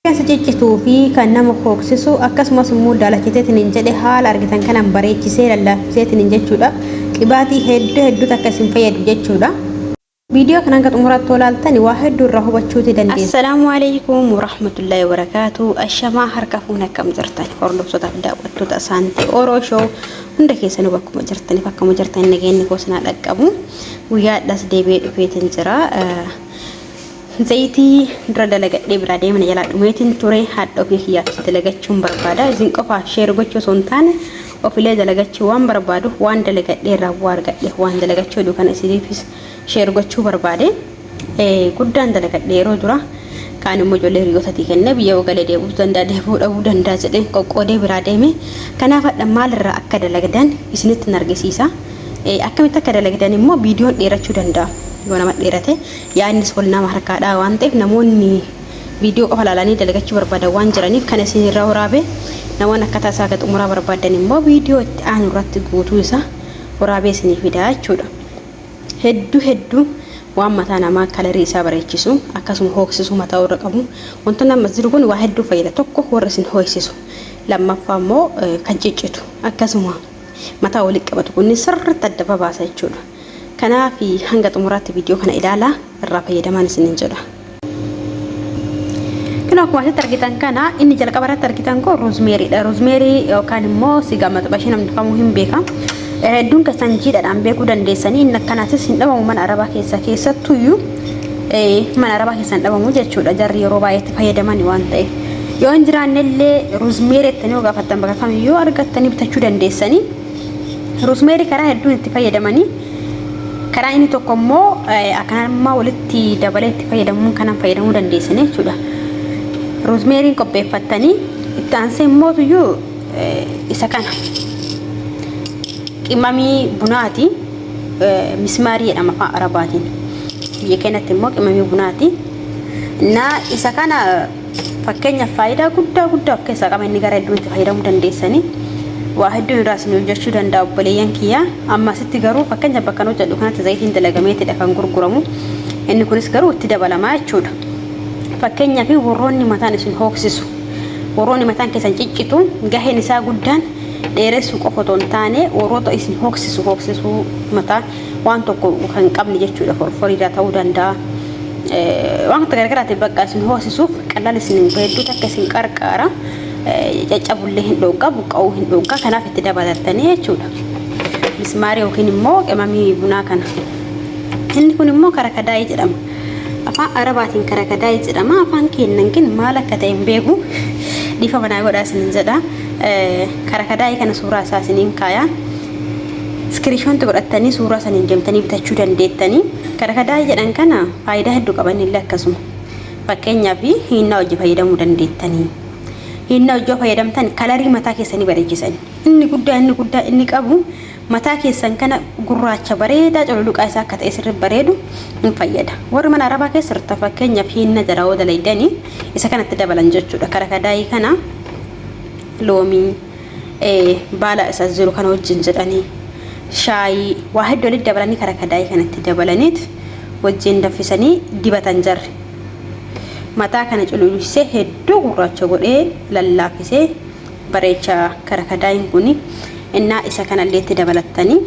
Kan si ciccituu fi kan nama hooksisu akkasumas immoo daalachiseetiniin jedhe haala argitan kanaan bareechisee lallaafiseetiniin jechuudha. Qibaatii hedduu hedduutu akka isin fayyadu jechuudha. Viidiyoo kana hanga xumuraatti yoo laaltan waa hedduu irraa hubachuuti dandeessu. Assalaamu alaikum warahmatullahi wabarakaatuh. Ashamaa harka fuune akkam jirtan hordoftotaaf daawwattoota Asaantee Oro Show hunda keessanuu bakkuma jirtaniif akkuma jirtan nageenyi koo sinaa dhaqqabu. Guyyaadhaas deebi'ee dhufeetiin jira. Zayitii dura dalagadhee biraa deeme na jalaa dhumeetiin ture hadha ofii kiyyaafis dalagachuun barbaada isin qofaaf sheer gochuu osoo hin taane ofilee dalagachuu waan barbaaduuf waan dalagadhee irraa bu'aa argadhe waan dalagachuu hedu kana isiniifis sheer gochuu barbaade guddaan dalagadhe yeroo dura kaan immoo ijoollee hiriyootatii kennee biyya yoo galee deebi'uu danda'a deebi'uu dhabuu danda'a jedheen qoqqoodee biraa deeme kanaaf hadha maalirraa akka dalagdan isinitti hin argisiisa akkamitti akka dalagdan immoo viidiyoon dheerachuu danda'a yoo nama dheerate Yaadnis wal nama harkaa dhaha waan ta'eef namoonni viidiyoo qofa ilaalanii dalagachuu barbaadan waan jiraniif kan isin irraa waraabe namoonni akkataa isaa haga xumuraa barbaaddan immoo viidiyoo itti aanu irratti guutuu isaa waraabee isinii fidaa jechuudha. Hedduu hedduu waan mataa namaa kalarii isaa bareechisu akkasuma hooksisuu mataa warra qabu wantoonni ammas jiru kun waa hedduu fayyada tokko warra isin hooksisu lammaffaa immoo kan ciccitu akkasuma mataa walitti qabatu kunni sirriitti adda babaasa jechuudha. Kanaaf hanga xumuraatti viidiyoo kana ilaalaa irraa fayyadamaan isiniin jedha. Kun akkuma asitti argitan kana inni jalqaba irratti argitan kun roozmeeriidha. Roozmeerii yookaan immoo sigaa maxabashii namni kamuu hin beeka. Hedduun keessan jiidhaadhaan beekuu dandeessanii inni akkanaatis hin dhabamu mana arabaa keessa keessattuyyuu mana arabaa keessa hin dhabamu jechuudha. Jarri yeroo baay'eetti fayyadamani waan ta'eef. Yoo hin jiraannellee roozmeerii jettanii yoo gaafattan bakka kamiyyuu argattanii bitachuu dandeessanii. Roosmeerii karaa hedduun itti fayyadamanii karaa inni tokko immoo akkanummaa walitti dabalee itti fayyadamuun kanan fayyadamuu dandeessan jechuudha. Roosmeeriin qopheeffattanii itti aansee immoo tuyyuu isa kana qimamii bunaati mismaarii jedhama afaan arabaatiin biyya keenyatti immoo qimamii bunaati. Naa isa kana Fakkeenyaaf faayidaa guddaa guddaa of keessaa qaba inni gara hedduutti fayyadamuu dandeessanii waa hedduun irraa isin hojjechuu danda'a obboleeyyan kiyya amma asitti garuu fakkeenya bakka nu hojjedhu kanatti zayitiin dalagameetidha kan gurguramu inni kunis garuu itti dabalamaa jechuudha fakkeenyaa fi warroonni mataan isin hooksisu warroonni mataan keessan ciccitu gaheen isaa guddaan dheeressuu qofa otoo hin taane warroota isin hooksisu hooksisuu mataa waan tokko kan qabne jechuudha forforiidaa ta'uu danda'a. Waan akka gargaraatiif bakka isin hoosisuuf qallaan isin hedduu takka isin qarqaara. Caccabullee hin dhoggaa buqqa'uu hin dhoggaa kanaaf itti dabalattanii jechuudha. Mismaarii yookiin immoo qimamii bunaa kana. Inni kun immoo karakadaayii jedhama. Afaan Arabaatiin karakadaayii jedhama. Afaan keenyan kin maal akka ta'e hin beeku. Dhiifama naa godhaa isinin jedha. Karakadaayii kana suuraa isaa isinin kaayaa. Iskiriishoonti godhattanii suuraa saniin deemtanii bitachuu dandeettanii. Karakadaa jedhan kana faayidaa hedduu qaba innillee akkasuma. Fakkeenyaaf hiinnaa hojii fayyadamuu dandeettanii. Hiinnaa hojii yoo fayyadamtan kalarii mataa keessanii bareechisan. Inni guddaa inni guddaa inni qabu mataa keessan kana gurraacha bareedaa cululuqaa isaa akka ta'e sirri bareedu hin fayyada. Warri mana arabaa keessa turtan fakkeenyaaf hiinna jara hoo dalaydanii isa kanatti dabalan jechuudha. Karakadaayii kana loomii baala isa as jiru kana wajjin jedhanii shaayii waa hedduu walitti dabalanii kara kadaayii kanatti dabalaniit wajjin danfisanii dibatan jarri. Mataa kana cululisee hedduu gurraacha godhee lallaafisee bareecha kara kadaayiin kun innaa isa kanallee itti dabalattanii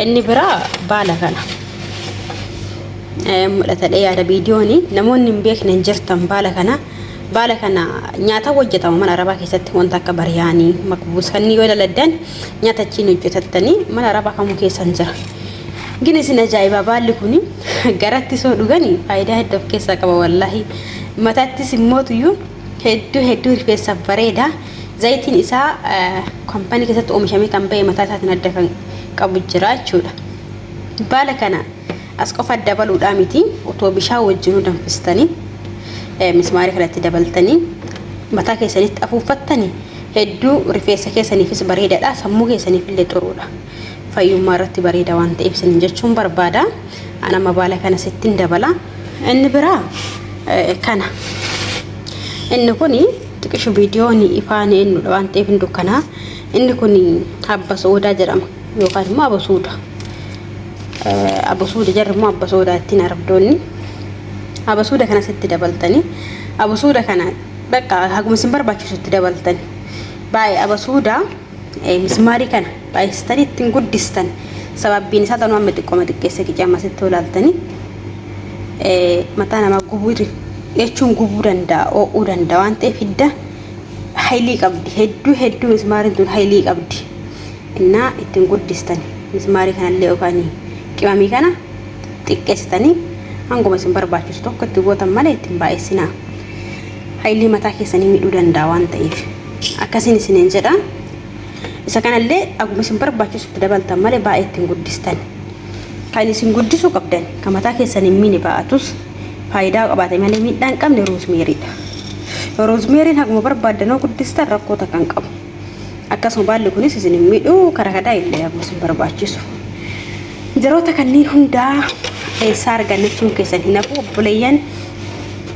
Inni biraa baala kana. Mul'atadhee yaada viidiyoon namoonni hin beekne hin jirtan baala kana. Baala kana nyaata hojjetama mana arabaa keessatti wanta akka bariyaanii makbuus kanneen yoo daladdan nyaata achiin hojjetattanii mana arabaa kamuu keessa hin jira. Gin isin ajaa'ibaa baalli kun garatti soo dhuganii faayidaa hedduu of keessaa qaba wallaahi. Mataattis immootuyyuu hedduu hedduu rifeensaaf bareeda. Zayitiin isaa kaampaanii keessatti oomishamee kan ba'e mataa isaatiin adda kan qabu jira jechuudha. Baala kana as qofa adda baluudhaa miti otoo bishaan wajjinuu danfistanii mismaarii kanatti dabaltanii mataa keessanitti afuuffattanii hedduu rifeensa keessaniifis bareedaadha sammuu keessaniif illee xuruudha. Fayyummaa irratti bareeda waan ta'eef isin jechuun barbaada. An amma baala kana sittin dabala. Inni biraa kana. Inni kuni Xiqisho viidiyoon ifaan eenyudha waan ta'eef hin dukkanaa. Inni kun abba soodaa jedhama yookaan immoo abba suuda. Abba suuda jarri immoo abba soodaa ittiin arabdoonni. Abba suuda kana sitti dabaltanii abba suuda kana bakka haguma isin barbaachisu itti dabaltanii. Baay'ee abba suudaa Mismaarii kana baay'istanii ittiin guddistan sababbiin isaa tanuu amma xiqqoma xiqqeessa qicee amma sitti olaaltanii mataa namaa gubuu jechuun gubuu danda'a oo'uu danda'a waan ta'eef hidda haylii qabdi hedduu hedduu mismaariin tun haylii qabdi innaa ittiin guddistan mismaarii kanallee yookaan qimamii kana xiqqeessitanii hanguma isin barbaachisu tokko itti gootan malee ittiin baay'issinaa haylii mataa keessanii miidhuu danda'a waan ta'eef. Akkasiin isiniin jedha. Isa kanallee akkuma isin barbaachisu itti dabaltan malee baay'ee ittiin guddistan. Kan isin guddisuu qabdan kan mataa keessan hin miine baa'atus faayidaa qabaate malee miidhaa hin qabne roozmeeriidha. Roozmeeriin akkuma barbaaddan yoo guddistan rakkoo takka hin qabu. Akkasuma baalli kunis isin hin miidhu karaa kadaa illee akkuma isin barbaachisu. Jaroota kanneen hundaa eessaa argannachuun keessan hin hafu obboleeyyan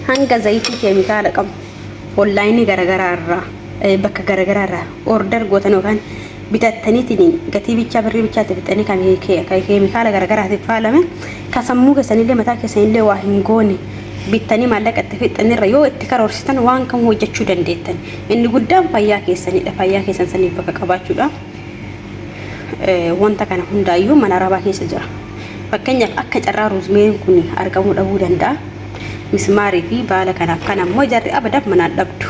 hanga zayitii keemikaala qabu. Online garagaraa irraa bakka garagaraa irraa order gootan yookaan bitattaniitiin gatii bichaa birrii bichaatti fixanii kan keemikaala garagaraatiif faalame kan sammuu keessanillee mataa keessanillee waa hin goone bittanii maallaqa itti fixxanirra yoo itti karoorsitan waan kam hojjechuu dandeettan inni guddaan fayyaa keessanidha fayyaa keessan saniif bakka qabaachuudha wanta kana hundaayyuu mana arabaa keessa jira fakkeenyaaf akka carraa ruuzmeeriin kun argamuu dhabuu danda'a mismaarii fi baala kanaaf kan ammoo jarri abadaaf manaan dhabdu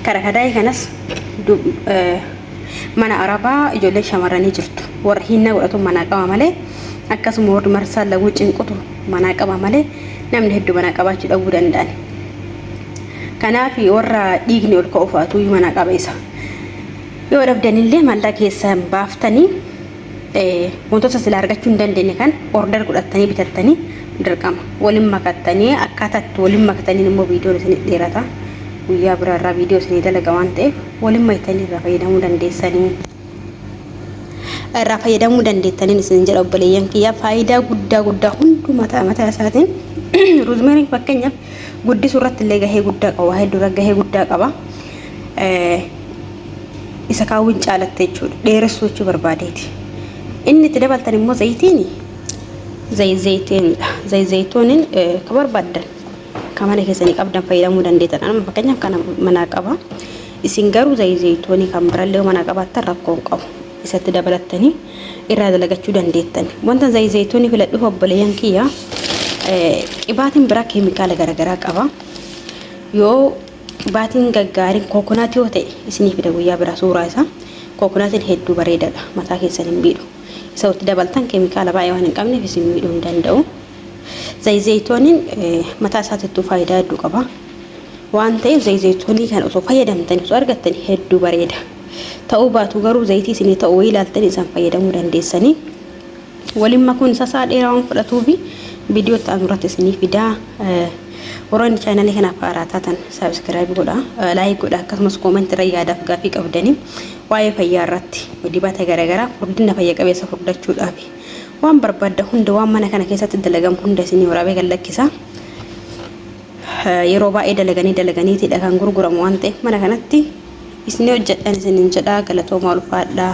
karakadaayii kanas mana arabaa ijoolleen shamarranii jirtu warra hinnaa godhatu manaa qaba malee akkasuma warri marsaa laguu cinqutu manaa qaba malee namni hedduu manaa qabaachuu dhabuu danda'an kanaaf warra dhiigni ol ka'u fa'atuu manaa qaba isa yoo dhabdanillee mallaa keessan baaftanii Wantoota silaa argachuu hin dandeenye kan order godhattanii bitattanii dirqama waliin makattanii akkaataa itti waliin makattaniin immoo viidiyoon isinii dheerata. Guyyaa biraa irraa viidiyoo isinii dalaga waan ta'eef waliin makatanii irraa fayyadamuu dandeessanii. Irraa fayyadamuu dandeettaniin isin jedha obboleeyyan kiyyaa faayidaa guddaa guddaa hunduu mataa mataa isaatiin ruuzmeeriin fakkeenyaaf guddisuu irratti illee gahee guddaa qaba. Waa hedduu irra gahee guddaa qaba. isa kaawwin caalatte jechuudha dheeressuu jechuu barbaadeeti inni itti dabaltan immoo zayitiin zayizayitiinidha zayizayituunin ka barbaaddan ka mana keessanii qabdan fayyadamuu dandeetan amma fakkeenyaaf kana manaa qaba isin garuu zayizayituunii kan birallee yoo manaa qabaattan rakkoon qabu isatti dabalattanii irraa dalagachuu dandeettan wanta zayizayituunii filadhuuf obboleeyyan kiyya qibaatiin biraa keemikaala garaagaraa qaba yoo Qibaatiin gaggaariin kookonaat yoo ta'e isinii fida guyyaa biraa suuraa isaa. Kookonaatiin hedduu bareedaadha. Mataa keessan hin miidhu. Isa itti dabaltan keemikaala baay'ee waan hin qabneef isin miidhuu hin danda'u. Zayizayitooniin mataa isaatiittuu faayidaa hedduu qaba. Waan ta'eef zayizayitoonii kana osoo fayyadamtanii osoo argattanii hedduu bareeda. Ta'uu baatu garuu zayitii isinii ta'u wayii ilaaltanii isaan fayyadamuu dandeessanii. Waliin makuun isaa isaa dheeraa waan fudhatuufi viidiyoo itti aanu irratti isinii fidaa. Warroonni chaanalii kanaaf haaraa taatan saabskiraayib godhaa, laayik godhaa akkasumas koomenti irra yaadaaf gaaffii qabdanii waa'ee fayyaa irratti dibata garaagaraa furdina fayya qabeessa furdachuudhaaf waan barbaadda hunda waan mana kana keessatti dalagamu hunda isinii waraabee kan lakkisaa. Yeroo baay'ee dalaganii dalaganiitiidha kan gurguramu waan ta'eef mana kanatti isinii hojjedhan isiniin jedhaa galatoomaa ulfaadhaa.